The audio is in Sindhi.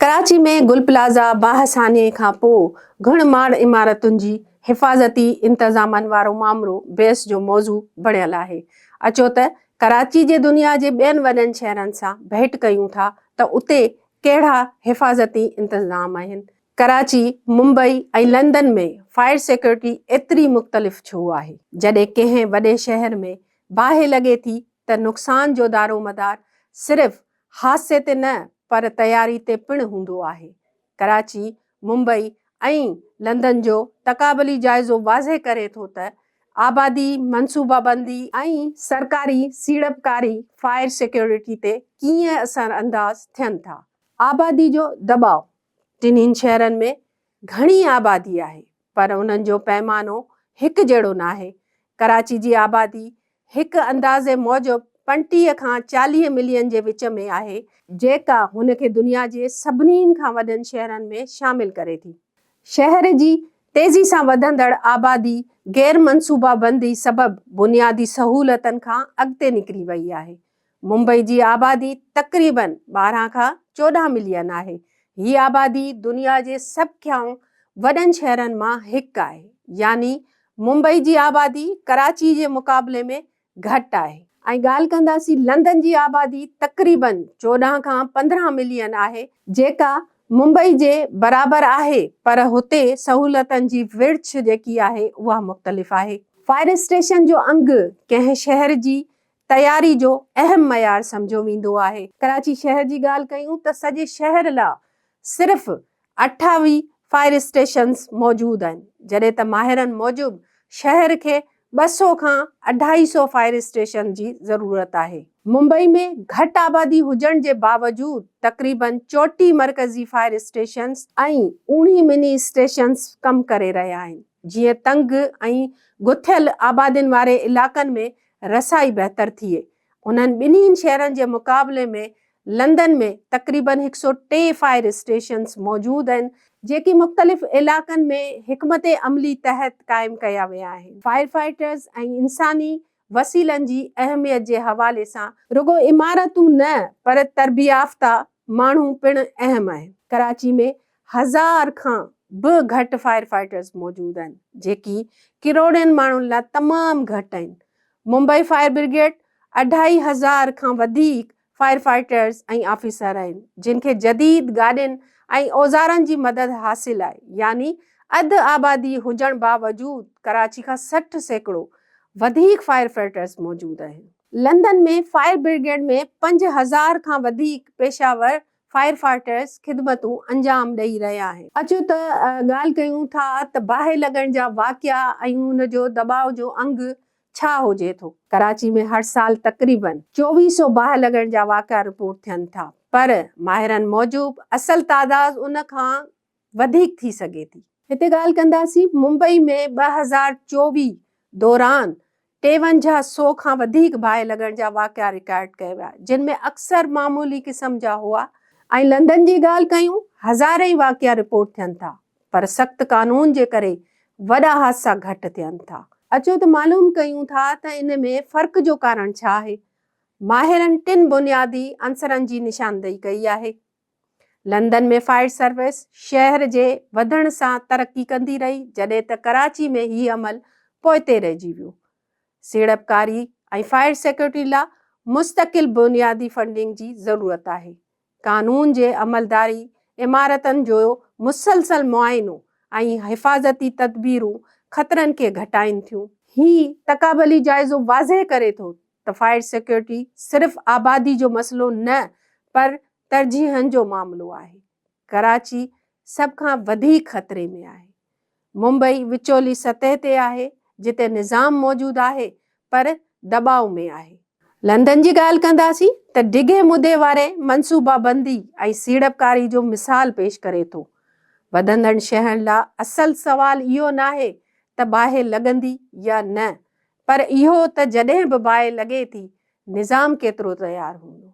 ڪراچي ۾ گل پلازا باهه سانحي کان پوء گهڻ ماڙ عمارتن جي حفاظتي انتظامن وارو مامرو بحث جو موضوع بڻيل آهي. اچو ته ڪراچي جي دنيا جي ٻين وڏن شهرن سان ڀيٽ ڪيون ٿا ته اتي ڪهڙا حفاظتي انتظام آهن. Karachi, Mumbai ۽ London ۾ fire security ايتري مختلف ڇو آهي؟ جڏهن ڪنهن وڏي شهر ۾ باهه لڳي ٿي ته نقصان جو دارومدار صرف حادثي تي نه پر تياري تي پڻ هوندو آهي. ڪراچي، ممبئي ۽ لندن جو تقابلي جائزو واضح ڪري ٿو ته آبادي، منصوبابندي ۽ سرڪاري سيڙپڪاري فائر سيڪيورٽي تي ڪيئن اثرانداز ٿين ٿا. آبادي جو دٻاء، ٽنهين شهرن ۾ گهڻي آبادي آهي پر انهن جو پيمانو هڪ جهڙو ناهي. ڪراچي جي آبادي هڪ اندازي موجب پنٽيهه کان چاليهه ملين جي وچ ۾ آهي، جيڪا هن کي دنيا جي سڀني کان وڏن شهرن ۾ شامل ڪري ٿي شهر جي تيزي سان وڌندڙ آبادي غير منصوبابندي سبب بنيادي سهولتن کان اڳتي نڪري وئي آهي ممبئي جي آبادي تقريباً ٻارهن کان چوڏهن ملين آهي. هي آبادي دنيا جي سڀ کان وڏن شهرن مان هڪ آهي. يعني ممبئي جي آبادي ڪراچي جي مقابلي ۾ گهٽ آهي. ائين ڳالهه ڪنداسين لندن جي آبادي تقريباً چوڏهن کان پندرهن ملين آهي. جيڪا ممبئي جي برابر آهي پر هتي سهولتن جي ورڇ جيڪي آهي اها مختلف آهي. فائر اسٽيشن جو انگ ڪنهن شهر جي تياري جو اهم معيار سمجهيو ويندو آهي. ڪراچي شهر جي ڳالهه ڪيون ته سڄي شهر لا صرف اٺاويهه فائر اسٽيشنز موجود آهن جڏهن ته ماهرن موجب شهر کي ٻه سؤ کان اڍائي سؤ فائر اسٽيشنز جي ضرورت آهي. ممبئي ۾ گهٽ آبادي هجڻ جي باوجود تقريباً چوٽيهه مرڪزي فائر اسٽيشنز ۽ اوڻيهه مني اسٽيشنز ڪم ڪري رهيا آهن جيئن تنگ ۽ گٿيل آبادين واري علائقن ۾ رسائي بهتر ٿئي. انهن ٻنهي شهرن جي مقابلي ۾ لندن ۾ تقريبن هڪ سؤ ٽي فائر اسٽيشنز موجود آهن، جيڪي مختلف علائقن ۾ حڪمت عملي تحت قائم ڪيا ويا آهن، فائرفائٽرز ۽ انساني وسيلن جي اهميت جي حوالي سان. رڳو عمارتون نه پر تربيافته ماڻهو پڻ اهم آهن. ڪراچي ۾ هزار کان به گهٽ فائر فائيٽرز موجود آهن جيڪي ڪروڙين ماڻهن لاء تمام گهٽ آهن. ممبئي فائر برگيڊ اڍائي هزار کان وڌيڪ فائر فائيٽرز ۽ آفيسر آهن جن کي جديد گاڏين ۽ اوزارن جي مدد حاصل آهي يعني اڌ آبادي هجڻ باوجود ڪراچي کان سٺ سيڪڙو وڌيڪ فائر فائيٽرز موجود آهن. لندن ۾ فائر برگيڊ ۾ پنج هزار کان وڌيڪ پيشه ور فائر فائٽرز خدمتون انجام ڏئي رهيا آهن. اچو ته ڳالهه ڪيون ٿا ته باهه لڳڻ جا واقعا ۽ ان جو دٻاء جو انگ ڇا هجي ٿو. ڪراچي ۾ هر سال تقريبن چوويهه سو باهه لڳڻ جا واقعا رپورٽ ٿين ٿا پر ماهرن موجب اصل تعداد ان کان وڌيڪ ٿي سگهي ٿي. هتي ڳالهه ڪنداسين ممبئي ۾ ٻه هزار چوويهه دوران ٽيونجاهه سو کان وڌيڪ باهه لڳڻ جا واقعا رڪارڊ ڪيا ويا جن ۾ اڪثر معمولي قسم جا هئا، ۽ لندن جي ڳالهه ڪيون هزارين واقعا رپورٽ ٿين ٿا پر سخت قانون جي ڪري وڏا حادثا گهٽ ٿين ٿا. اچو ته معلوم ڪيون ٿا ته ان ۾ فرق جو ڪارڻ ڇا آهي. ماهرن ٽن بنيادي عنصرن جي نشاندهي ڪئي آهي. لندن ۾ فائر سروس شهر جي وڌڻ سان ترقي ڪندي رهي جڏهن ته ڪراچي ۾ هي عمل پوئتي رهجي ويو. سيڙپڪاري ۽ فائر سيڪيورٽي لا مستقل بنيادي فنڊنگ جي ضرورت آهي. قانون جي عملداري، عمارتن جو مسلسل معائنو ۽ حفاظتي تدبيرون خطرن کي گهٽائين ٿيون. هي تقابلي جائزو واضح ڪري ٿو ته فائر سيڪيورٽي صرف آبادي جو مسئلو نه پر ترجيحن جو معاملو آهي، ڪراچي سڀ کان وڌيڪ خطري ۾ آهي، ممبئي وچولي سطح تي آهي جتي نظام موجود آهي پر دٻاء ۾ آهي، لندن جي ڳالهه ڪنداسين ته ڊگهي مدي واري منصوبابندي ۽ سيڙپڪاري جو مثال پيش ڪري ٿو، وڌندڙ شهرن لا اصل سوال اهو ناهي ته باهه لڳندي يا نه پر اهو ته جڏهن به باهه لڳي ٿي نظام ڪيترو تيار هوندو.